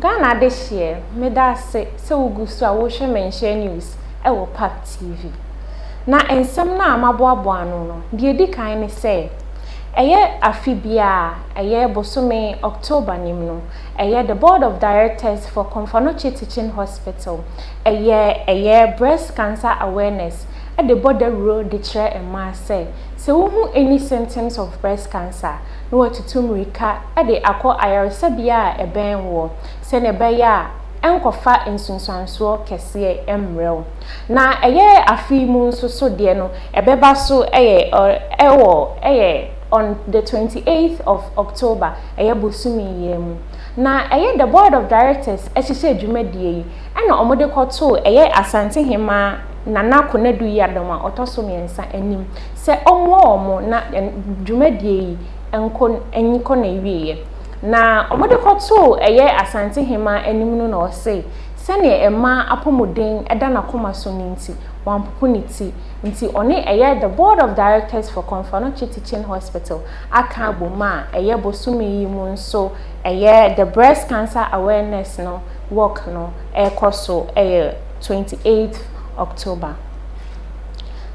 Ghana adehyeɛ meda ase sɛ wogu so a wohwɛ Menhyɛ News wɔ Park TV. Na nsɛm no a maboaboa ano no, deɛ ɛdi kan ne sɛ, ɛyɛ afe biara, ɛyɛ bosome October no mu no, ɛyɛ The Board of Directors for Komfanoche Teaching Hospital, ɛyɛ ɛyɛ Breast Cancer Awareness de bɔ dawuro de kyerɛ mmaa sɛ, sɛ wohu any symptoms of breast cancer a, na wɔatutu mmirika de akɔ ayaresabea a ɛbɛn woɔ sɛdeɛ ɛbɛyɛ a ɛrenkɔfa nsunsuansoɔ kɛseɛ mmrɛ wo. Na ɛyɛ afe yi mu nso so deɛ no, ɛbɛba so yɛ wɔ yɛ on the twenty eighth of October, ɛyɛ bosome yi ara mu. Na ɛyɛ the Board of Directors hyehyɛɛ dwumadie yi na wɔde kɔtoo ɛyɛ Asante Hemmaa Nana Konadu Yiadom a ɔtɔ so mmiɛnsa anim. sɛ ɔmmoa wɔn na dwumadie yi nkɔ nkɔ n'awieɛ. Na wɔde kɔtoo ɛyɛ Asantehemaa anim no na ɔse sɛdeɛ ɛmaa apɔmuden da n'akoma so no nti wampopo ne ti nti ɔne ɛyɛ The Board of Directors for Komfanochi Teaching Hospital aka abom a ɛyɛ bosome yi mu nso ɛyɛ The Breast Cancer Awareness no walk no rekɔ so ɛyɛ 28th October.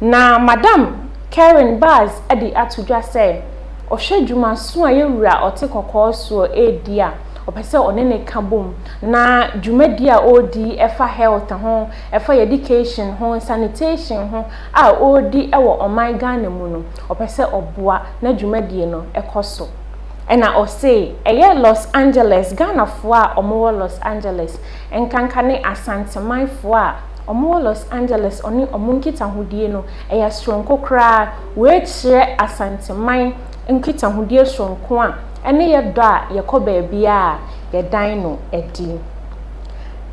Na Madam Karen Bass de ato dwa sɛ, Ɔhwɛ dwumaso a yɛn wura ɔte kɔkɔɔ soɔ redi a ɔpɛ sɛ ɔne no ka bom, na dwumadie a ɔredi yi ɛfa health ho, ɛfa yɛn education ho, sanitation ho a ɔredi wɔ ɔman Ghana mu no, ɔpɛ sɛ ɔboa na dwumadie no kɔ so. Ɛna ɔse, ɛyɛ Los Angeles, Ghanafoɔ a wɔwɔ Los Angeles, nkanka ne Asantemanfoɔ a wɔwɔ Los Angeles ɔne wɔn nkitahodie no, ɛyɛ soronko koraa. Wei kyerɛ Asanteman nkitahodie soronko a ɛne yɛ dɔ a yɛkɔ baabiara a yɛdan no adi.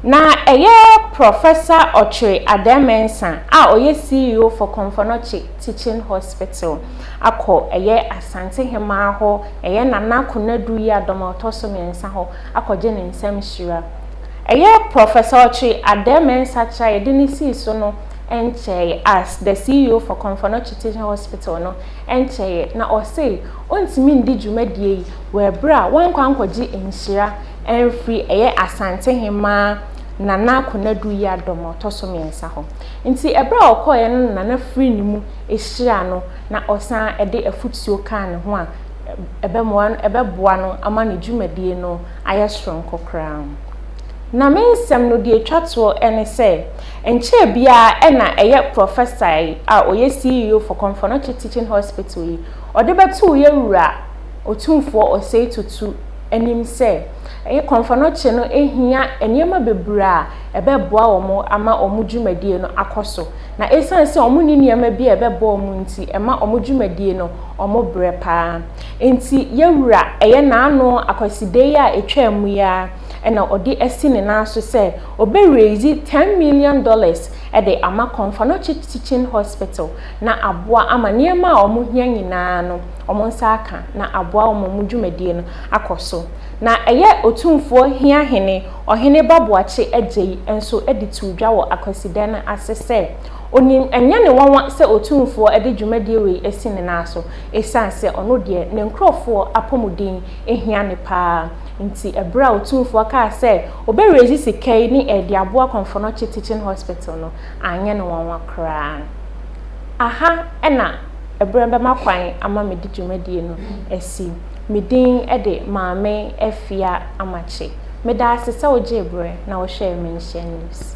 Na ɛyɛ Professor Otwere Addai-Mensah a ɔyɛ CEO for Komfo-Anokye Teaching Hospital akɔ ɛyɛ Asante Hemaa hɔ, ɛyɛ Nana Konadu Yiadom a ɔtɔ so mmiɛnsa hɔ akɔgye ne nsam hyira. Ɛyɛ Professor Otwi Addeh-Mensah kyerɛ a yɛde no sii so no nkyɛe as the CEO for Komfo-Anokye Teaching Hospital no nkyɛe na ɔse ontumi ndi dwumadie yi wɔ ɛberɛ a wankɔ ankɔgye nhyira amfiri ɛyɛ Asantehemaa Nana Konadu Yiadom a ɔtɔ so mmiɛnsa hɔ nti ɛberɛ a ɔkɔeɛ no na Nana firi ne mu hyiraa no na ɔsan de afotuo kaa ne ho a ɛbɛmoa no ɛbɛboa no ama ne dwumadie no ayɛ soronko koraa. Na me nsɛm no deɛ ɛtwa toɔ ne sɛ, ɛnkyɛɛ biara na ɛyɛ prɔfɛsa yi a ɔyɛ CEO for Komfonochi Teaching Hospital yi, ɔde bɛtoo yɛn Wura Otumfoɔ Osei Tutu anim sɛ, Komfonochi no hia nneɛma bebree a ɛbɛboa wɔn ama wɔn dwumadie no akɔ so. Na ɛsiane sɛ wɔnni nneɛma bi a ɛbɛboa wɔn nti, ɛma wɔn dwumadie no, wɔbrɛ pa ara. Enti yɛn Wura, ɛyɛ N'ano akwaside yi a etwaa mu yi ara na Ɔde asi ne nan so sɛ Ɔbɛ raise ten million dollars de ama Kɔnfanɔkye Teaching Hospital na aboa ama nneɛma a wɔn hia nyinaa no wɔn nsa aka na aboa wɔn ma wɔn dwumadie no akɔ so. Na ɛyɛ Otumfoɔ Hia Hene Ɔhene Ba Boakye Adjei nso de too dwa wɔ akwasidɛ no ase sɛ, Onim ɛnyɛ ne nwanwa sɛ Otumfoɔ de dwumadie wei asi ne nan so, Esiane sɛ ɔno deɛ ne nkurɔfoɔ apɔmuden hia no pa ara nti, berɛ a Otumfoɔ kaa sɛ ɔbɛreise sika yi ne ɛde aboa Kɔmfɔnɔkye Teaching Hospital no, anyɛ no nwanwa koraa. Aha na berɛ bɛma kwan ama mede dwumadie no asi. Me din de Maame Afia Amakye. Meda ase sɛ wogyee berɛ na wohwɛɛ Menhyɛn News.